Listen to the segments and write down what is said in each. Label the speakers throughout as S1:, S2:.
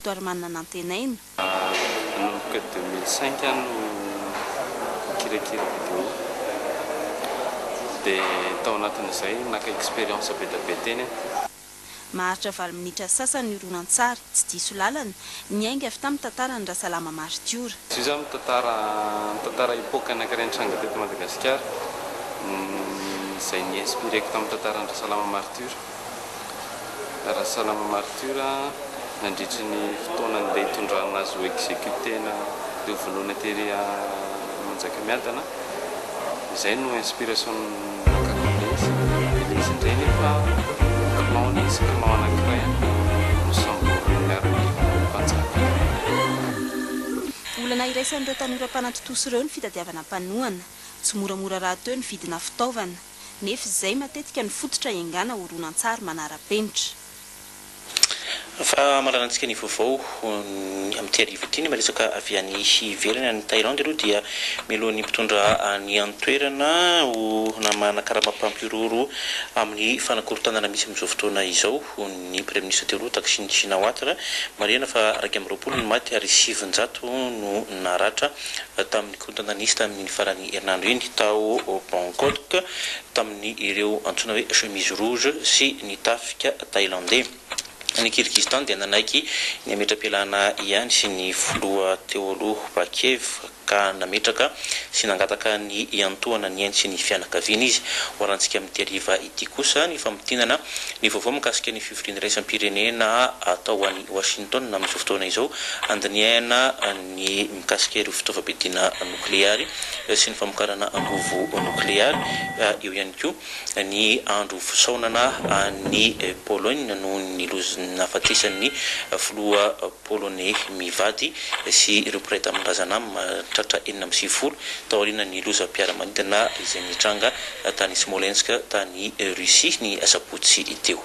S1: Doirman nanantenaina. Nanomboka
S2: deux mille cinq aho no mikirakira vidéo dia tao anatin'izay naka expérience be dia be teny aho. Maharitra
S1: valo minitra sasany ny horonantsary, tsy diso lalana, niainga avy tamin'ny tantaran'i Rasalama maritiora. Izy io izany mitantara
S2: mitantara epoque anankiray nitranga teto Madagasikara, izay ni-inspireko tamin'ny tantaran'i Rasalama maritiora. Rasalama Martiura nandritry ny fotoana andeha hitondrana azy ho executena teo volohana tery à Manjakamiadana izay no inspiration nakaton'le izy de le izy indray nefa clan nisy clan anakiray any nosamborin'ny miaramila mpanjaka.
S1: Olana iraisan'ireo tanora mpanatontosa ireo ny fitadiavana mpanohana. Tsy moramora rahateo ny vidina fitaovana. nefa izay matetika no fototra iangana horonantsary manara-penitra.
S3: Fa malalantsika ny vaovao amin'ity arivo ity, ny miresaka avy any ivelany, any Thaïlande aloha dia mialoha ny mpitondra any an-toerana ho namahana karama mpampihorohoro amin'ny fanakorontanana misy amin'izao fotoana izao ny praiminisitra teo aloha Thaksin Shinawatra. Marihana fa iraika amby roapolo ny maty ary sivinjato no naratra tamin'ny Korontana nisy tamin'iny faran'ny herinandro iny tao Bangkok tamin'ireo antsoina hoe chemise rouge sy ny tafika Thailandey. Ny Kyrgyzstan dia nanaiky ny hametra-pialana ihany sy ny filoha teo aloha Bakiyev ka nametraka sy nangataka ny hiantohana ny ainy sy ny fianakaviany izy. Hoarantsika amin'ity hariva ity kosa ny famintinana ny vaovao mikasika ny fivoriana iraisam-pirenena atao any Washington amin'izao fotoana izao handinihana ny ny mikasika ireo fitaovam-piadiana nokleary sy ny famokarana angovo nokleary. Eo ihany koa ny andro fisaonana an'i Pologne noho ny loza nahafatesan'ny filoha poloney mivady sy ireo mpiray tanindrazana mahatratra enina amby sivifolo taorian'ny lozam-piaramanidina izay nitranga tany Smolensk tany Russie ny asabotsy teo.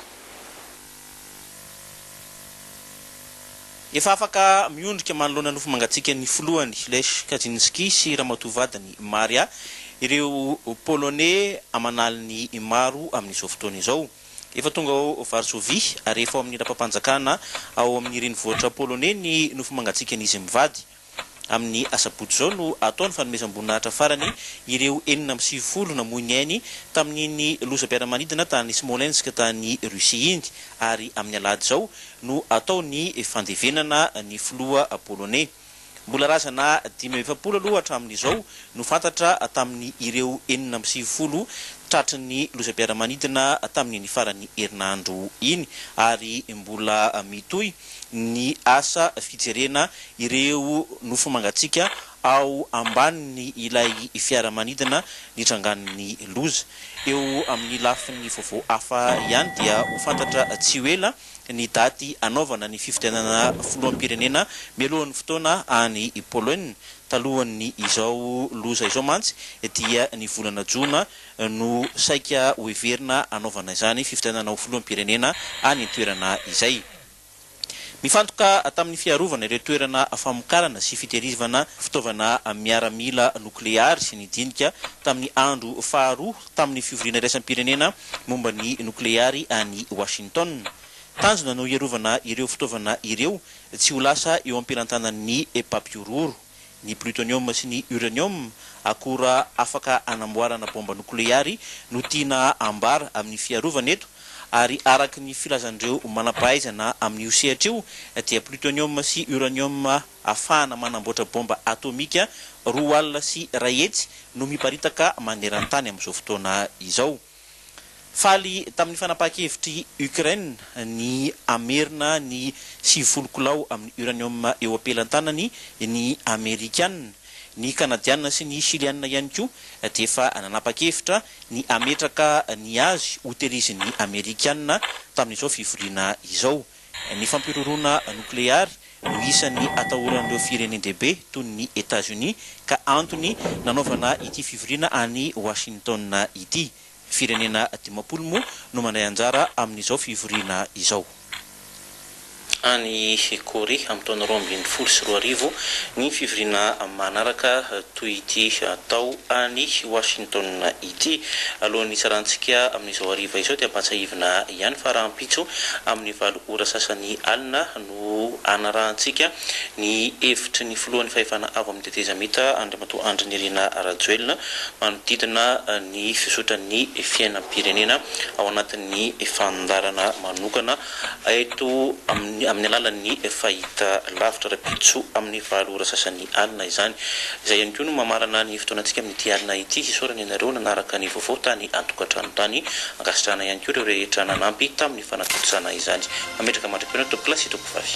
S3: Efa afaka miondrika manoloana nofo mangatsiakan'ny filohany Lech Kaczynski sy ramatoa vadiny Maria ireo Poloney aman'aliny maro amin'izao fotoana izao. Efa tonga ao Varsovia ary efa ao amin'ny lapam-panjakana ao amin'ny renivohitra Poloney ny nofo mangatsiakan'izy mivady. Amin'ny asabotsy izao no atao ny fanomezam-boninahitra farany ireo enina amby sivifolo namoy ny ainy tamin'iny lozam-piaramanidina tany Smolensk tany Russie iny ary amin'ny alahady izao no atao ny fandevenana ny filoha poloney. Mbola razana dimy amby efapolo aloha hatramin'izao no fantatra tamin'ny ireo enina amby sivifolo tratry ny lozam-piaramanidina tamin'iny farany herinandro iny ary mbola mitohy ny asa fijerena ireo nofo mangatsiaka ao ambanin' ilay fiaramanidina nitrangan' ny loza. Eo amin' ny lafin' ny vaovao hafa ihany dia ho fantatra tsy ho ela ny daty hanaovana ny fifidianana filoham-pirenena mialohan' ny fotoana any Poloina. Talohan' izao loza izao mantsy dia ny volana jona no saika ho heverina hanaovana izany fifidianana ho filoham-pirenena any an-toerana izay. Mifantoka tamin'ny fiarovana ireo toerana famokarana sy fitehirizvana fitaovana miaramila nokleary sy ny dinika tamin'ny andro faharoa tamin'ny fivoriana iraisam-pirenena momba ny nokleary any Washington. Tanjona no hiarovana ireo fitaovana ireo tsy ho lasa eo am-pelantanan'ny mpampihorohoro. Ny plutonium sy ny uranium, akora afaka anamboarana baomba nokleary, no tiana ambara amin'ny fiarovana eto, ary araka ny filazan'ireo manam-pahaizana amin'io sehatra io, dia plutonium sy uranium afahana manamboatra baomba atomika roa alina sy iray hetsy no miparitaka maneran-tany amin'izao fotoana izao. Faly tamin'ny fanapahan-kevitr'i Ukraine ny hamerina ny sivifolo kilao amin'ny uranium eo am-pelan-tanany ny Amerikana. Ny Kanadiana sy ny Shiliana ihany koa dia efa nanapa-kevitra ny hametraka ny azy ho tehirizin'ny Amerikana tamin'izao fivoriana izao. Ny fampihorohoroana nokleary no isan'ny atahoran'ireo firenen-dehibe toy ny Etazonia ka antony nanaovana ity fivoriana any Washington ity. Firenena dimampolo moa no mandray anjara amin'izao fivoriana izao. Any Korea amin'ny taona roa ambin'ny folo sy roa arivo ny fivoriana manaraka toy ity atao any Washington Ity alohan'ny hitsarantsika amin'izao hariva izao dia ampahatsiahivina ihany fa rahampitso amin'ny valo ora sasany alina no hanarahantsika ny hevitry ny filohan'ny fahefana avo amin'ny tetezamita Andriamatoa Andry Nirina Rajoelina manodidina ny fizotran'ny fiainam-pirenena ao anatin'ny fandaharana manokana eto amin'ny alalan'ny fahitalavitra rahampitso amin'ny valo ora sasany alina izany. Izay ihany koa no mamarana ny fotoanantsika amin'ity alina ity. Hisaorana ianareo nanaraka ny vaovao tany an-tokantrano tany. Ankasitrahana ihany koa ireo rehetra nanampy tamin'ny fanatontosana izany. Mametraka mandra-pihaona tompokolahy sy tompovavy.